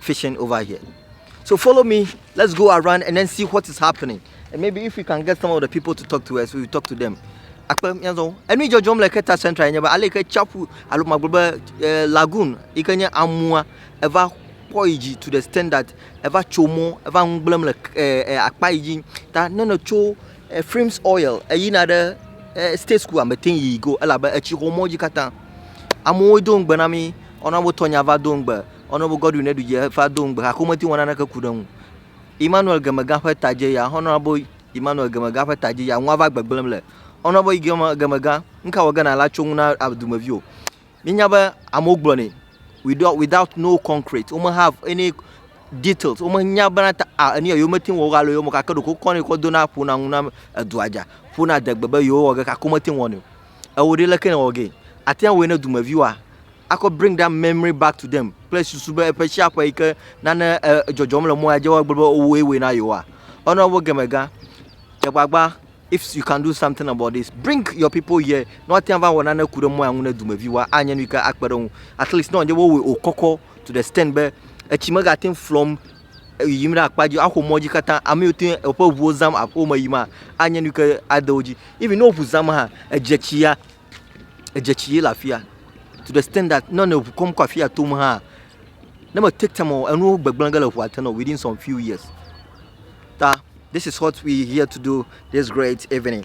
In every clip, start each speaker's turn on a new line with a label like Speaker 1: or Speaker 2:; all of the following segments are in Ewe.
Speaker 1: fishing over here. So follow me, let's go around and then see what is happening. And maybe if we can get some of the people to talk to us, we will talk to them. akpe miazɔ enu dzɔdzɔm le keta central nye be ale ke tsaƒu alo magblɔ be eh, lagoon yi ke nye amua eva kpɔ yi dzi to the standard eva tso mɔ eva ŋugblẽm le eh, eh, akpa yi dzi ta ne ne tso frames oil eyina ɖe state school amete yi go elabe etsi xɔ mɔ dzi katã amewo do ŋugbe na mi ɔna wotɔ nya va do ŋugbe Honourable Godwin Edudzi va do ŋugbe gake womete ŋu wɔ naneke ku ɖe eŋu o. Emmanuel Gemegã ƒe ta dzi ya, Honourable Emmanuel Gemegã ƒe ta dzi ya, nua va gbegblẽm le. Honourable Gem- Gemegã, nu ka wɔ ge nàle atso ŋu na a- dumevi o? Míenya be amewo gblɔnɛ without, without no concrete, wome have any details, womenya bena ta a enu ya yewomete ŋu wɔ o alo yewomewɔ o gake ɖeko wokɔnɛ kɔ dona ƒona ŋu na edua dza, ƒona adegbe be yewowɔ ge gake womete ŋu wɔnɛ o. ewɔ ɖi leke nèwɔ gee? Àte ŋu awɔe ne dumeviwoa? Akɔ bring that memory back to them kple susu be eƒe sia ƒe yi ke nane e, dzɔdzɔm le mɔa dzi woagblɔ be wowɔe wɔe na yewoa? Ɔna wo gemegã. Dze agbagba if you can do something about this. Bring your people here. Ne woate ŋu ava wɔ nane ku ɖe mɔa ŋu ne dumeviwoa, anye nu yi ke akpe ɖe wo ŋu. At least ne wònye be wowɔe wòkɔkɔ to the extent be etsi megate ŋu flɔm yiyim ɖe akpa dzi axɔ mɔ dzi katã ame yiwo te woƒe ŋuwo zam aƒeme yiyim hã anye nu yi ke ade wo dzi. Even ne wo ŋu zam hã edzetsi ya edzetsi ye le afi ya to de extend dat ne ŋu kɔm kɔ afi ya tom hã ne me take time o enuwo gbegblẽ ge le ŋua te na wò within some few years ta this is what we here to do this great evening.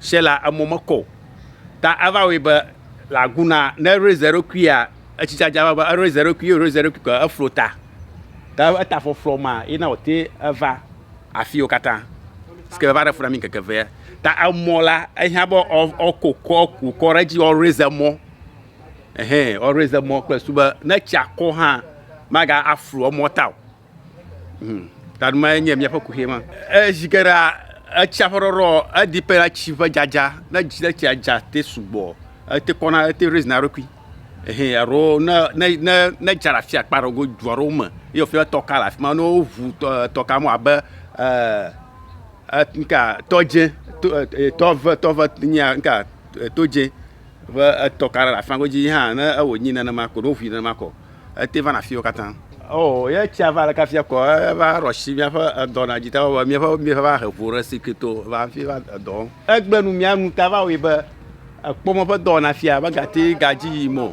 Speaker 2: Sela emɔ mekɔ o. Ta eva wɔe be le agu na ne eraise eɖokuia etsi dzadza va be eraise eɖokui ye eraise eɖokui ke eflo ta. Ta eta flɔflɔ ma ye na wòte eva afiwo katã. Si ke va ɖe fu na mi ŋkeke evea. Ta emɔ la ehiã be woakɔ kɔ wòkɔ ɖe edzi woaraise emɔ. Ehɛ woaraise emɔ kple susu be ne etsia kɔ hã maga aflo emɔ ta o. Hmm. Taɖo ma nye míaƒe kuxi ma. Ezi geɖe etsia ƒe ɖɔɖɔ edi pe na tsi ƒe dzadza. Ne dzi ne tsia dza te sugbɔ, ete kɔna ete raise na eɖokui. Ehe alo ne ne ne ne dza le afi akpa ɖewo du aɖewo me ye wofi be tɔka le afi ma ne woʋu tɔ tɔka mo abe ɛɛ eh, nka tɔdze tɔ eh, tɔve tɔve nya nka eh, todze ƒe etɔ ka ɖe le afima godzi yi hã ne ewɔ nyi nenema ko ɖo ʋui nenema kɔ ete vana fiwo katã. Oo ye tsia va ɖeka fia kɔ eva ɖɔ si míaƒe edɔ na dzi ta wɔwɔ míaƒe míaƒe va he vo ɖe si keto va fi va edɔ wɔm. Egbe nu mía nu ta va wɔe be ekpɔ mɔ ƒe dɔwɔna fia be gati gadzi yim o.